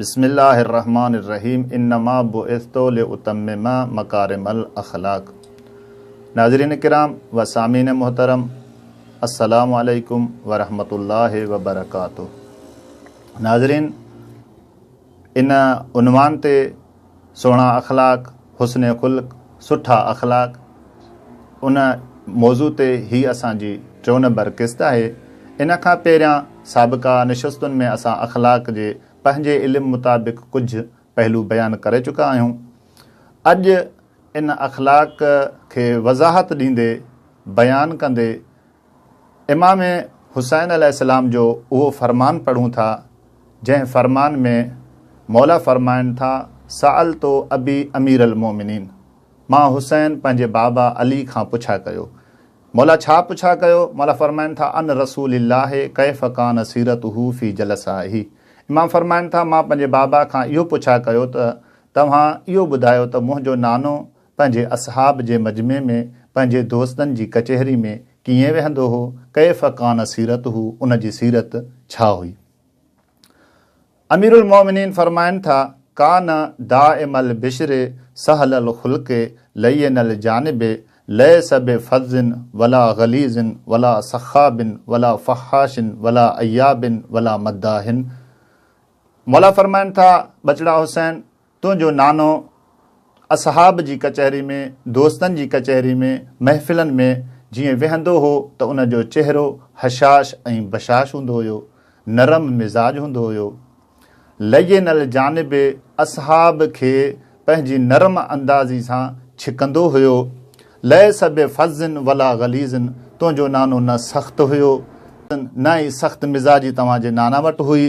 بسم الله الرحمٰن الرحيم انما بعثت لاتمم مڪارم الاخلاق ناظرين ڪرام و سامعين محترم السلام عليڪم ورحمة الله وبرڪاته ناظرين ان عنوان تي سهڻا اخلاق، حسن خلق، سٺا اخلاق، ان موضوع تي هي اسان جي ٽيون نمبر قسط آهي. ان کان پهريان سابقا نشستن ۾ اسان اخلاق جي پنهنجي علم مطابق ڪجهه پهلو بيان ڪري چڪا آهيون. اڄ ان اخلاق کي وضاحت ڏيندي، بيان ڪندي، امام حسين عليه السلام جو اهو فرمان پڙهون ٿا جنهن فرمان ۾ موليٰ فرمائن ٿا سألت ابي امير المومنين مان حسين پنهنجي بابا علي کان پڇا ڪيو موليٰ ڇا پڇا ڪيو موليٰ فرمائن ٿا عن رسول الله ڪيف ڪان سيرته في جلسائه امام فرمائن ٿا مان پنهنجي بابا کان اهو پڇا ڪيو ته توهان اهو ٻڌايو ته منهنجو نانو پنهنجي اصحاب جي مجمع ۾ پنهنجي دوستن جي ڪچهري ۾ ڪيئن ويهندو هو، ڪيف ڪان سيرته، ان جي سيرت ڇا هئي؟ اميرالمؤمنين فرمائن ٿا، ڪان دائم البشر سهل الخلق لين الجانب ليس بفظ ولا غليظ ولا سخاب ولا فحاش ولا عياب ولا مداح مولا فرمائن ٿا، ٻچڙا حسين! تنهنجو نانو اصحاب جي ڪچهري ۾، دوستن جي ڪچهري ۾، محفلن ۾ جيئن ويهندو هو ته ان جو چهرو هشاش ۽ بشاش هوندو هيو، نرم مزاج هوندو هيو. لين الجانب اصحاب کي پنهنجي نرم اندازي سان ڇڪندو هيو. ليس بفظ ولا غليظ تنهنجو نانو نه سخت هيو، نه ئي سخت مزاجي توهان جي نانا وٽ هئي.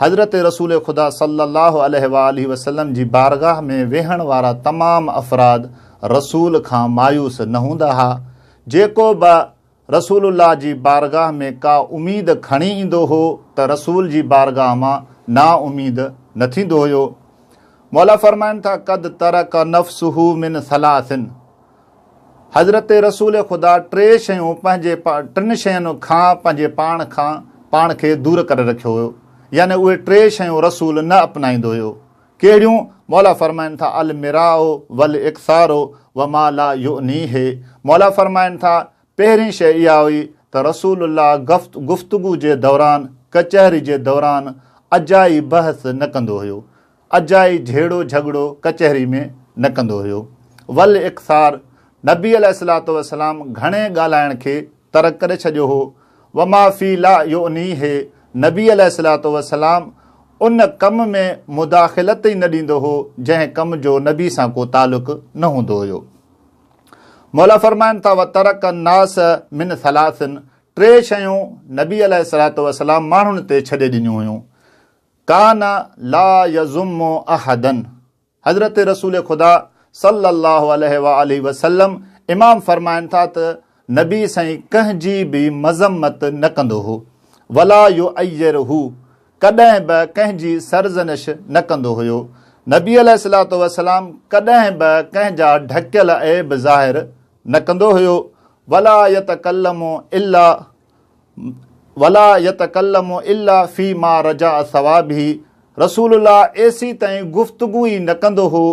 حضرت رسول خدا صلّي اللّٰه عليه واٰله وسلّم جي بارگاھ ۾ ويھڻ وارا تمام افراد رسول کان مايوس نه ھوندا ھا، جيڪو به رسول الله جي بارگاھ ۾ ڪا اميد کڻي ايندو ھو ته رسول جي بارگاھ مان نااميد نه ٿيندو ھيو. مولا فرمائن ٿا، قد ترڪ نفسه من ثلاث، حضرت رسول خدا ٽي شيون پنهنجي ٽن شين کان پنهنجي پاڻ کان پاڻ کي دور ڪري رکيو هيو يعني اهي ٽي شيون رسول نه اپنائيندو هيو ڪهڙيون مولا فرمائن ٿا المراء والاقصار وما لا يعنيه مولا فرمائن ٿا پهرين شيء اها هئي ته رسول الله گفتگو جي دوران ڪچهري جي دوران اجائي بحث نه ڪندو هيو اجائي جهيڙو جهڳڙو ڪچهري ۾ نه ڪندو هيو. ول اختصار، نبي عليه الصلوة والسلام گهڻي ڳالهائڻ کي ترڪ ڪري ڇڏيو هو. وما في لا يعنيه، نبي عليه الصلوة والسلام ان ڪم ۾ مداخلت ئي نه ڏيندو هو، جنهن ڪم جو نبي سان ڪو تعلق نه هوندو هيو. مولا فرمائن ٿا، وترڪ الناس من ثلاث، ٽي شيون نبي عليه الصلوة والسلام ماڻهن تي ڇڏي ڏنيون هيون. ڪان لا يضم احدا حضرت رسول خدا صلي الله عليه واٰله وسلم امام فرمائن ٿا ته نبي سائين ڪنهن جي به مذمت نه ڪندو هو ولا يعيره ڪڏهن به ڪنهن جي سرزنش نه ڪندو هيو نبي عليه الصلوة والسلام ڪڏهن به ڪنهن جا ڍڪيل عيب ظاهر نه ڪندو هيو ولا يتڪلم الا ولا يتڪلم الا في ما رجاء ثوابه رسول الله ايسي تائين گفتگو ئي نه ڪندو هو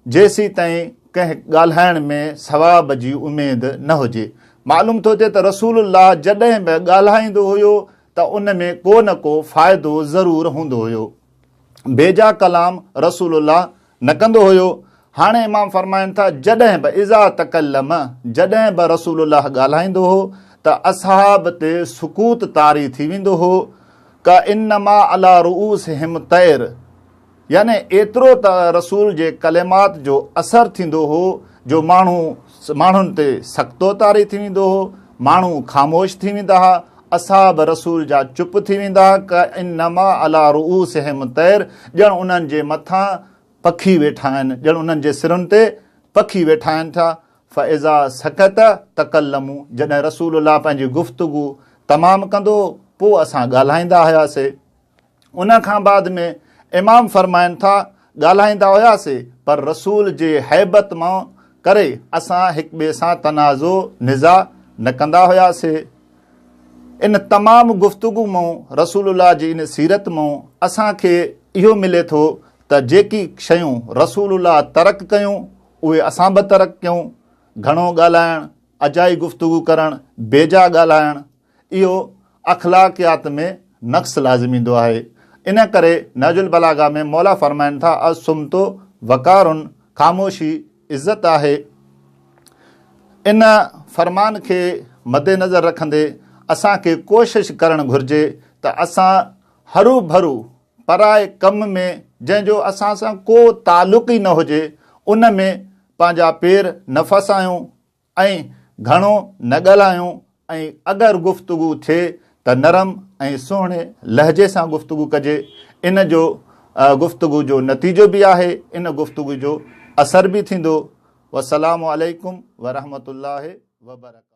جيسي تائين ڪنهن ڳالهائڻ ۾ ثواب جي اميد نه هجي معلوم ٿو ٿئي ته رسول الله جڏهن به ڳالهائيندو هيو ته ان ۾ ڪو نه ڪو فائدو ضرور هوندو هيو بيجا ڪلام رسول الله نه ڪندو هيو. هاڻي امام فرمائن ٿا جڏهن به اذا تڪلم جڏهن به رسول الله ڳالهائيندو هو ته اصحاب تي سڪوت طاري ٿي ويندو هو ڪا انما علا رؤوسهم طير يعني ايترو ته رسول جي ڪلمات جو اثر ٿيندو هو جو ماڻهو ماڻهن تي سختو طاري ٿي ويندو هو، ماڻهو خاموش ٿي ويندا ها، اصحاب رسول جا چپ ٿي ويندا ها، ڪانما علي رؤوسهم طير ڄڻ انهن جي مٿان پکي ويٺا آهن، ڄڻ انهن جي سرن تي پکي ويٺا آهن ٿا، فاذا سڪت تڪلمو جڏهن رسول الله پنهنجي گفتگو تمام ڪندو هو، پوء اسان ڳالهائيندا هياسي. ان کان بعد ۾ امام فرمائن ٿا، ڳالهائيندا هياسي پر رسول جي هيبت مان ڪري اسان هڪ ٻئي سان تنازع، نزاع، نه ڪندا هياسي. ان تمام گفتگو مان رسول الله جي ان سيرت مان اسان کي اهو ملي ٿو ته جيڪي شيون رسول الله ترڪ ڪيون اهي اسان به ترڪ ڪيون، گهڻو ڳالهائڻ، اجائي گفتگو ڪرڻ، بيجا ڳالهائڻ، اهو اخلاقيات ۾ نقص لازم ايندو آهي. ان ڪري نهج البلاغه ۾ مولا فرمائن ٿا الصمت وقار خاموشي عزت آهي. ان فرمان کي مدنظر رکندي اسان کي ڪوشش ڪرڻ گهرجي ته اسان هروڀرو پرائي ڪم ۾ جنهن جو اسان سان ڪو تعلق ئي نه هجي ان ۾ پنهنجا پير نه ڦاسايون، ۽ گهڻو نه ڳالهايون ۽ اگر گفتگو ٿئي ته نرم ۽ سهڻي لهجي سان گفتگو ڪجي ان جو گفتگو جو نتيجو به آهي ان گفتگو جو اثر به ٿيندو وسلام عليڪم ورحمة الله وبرڪاته.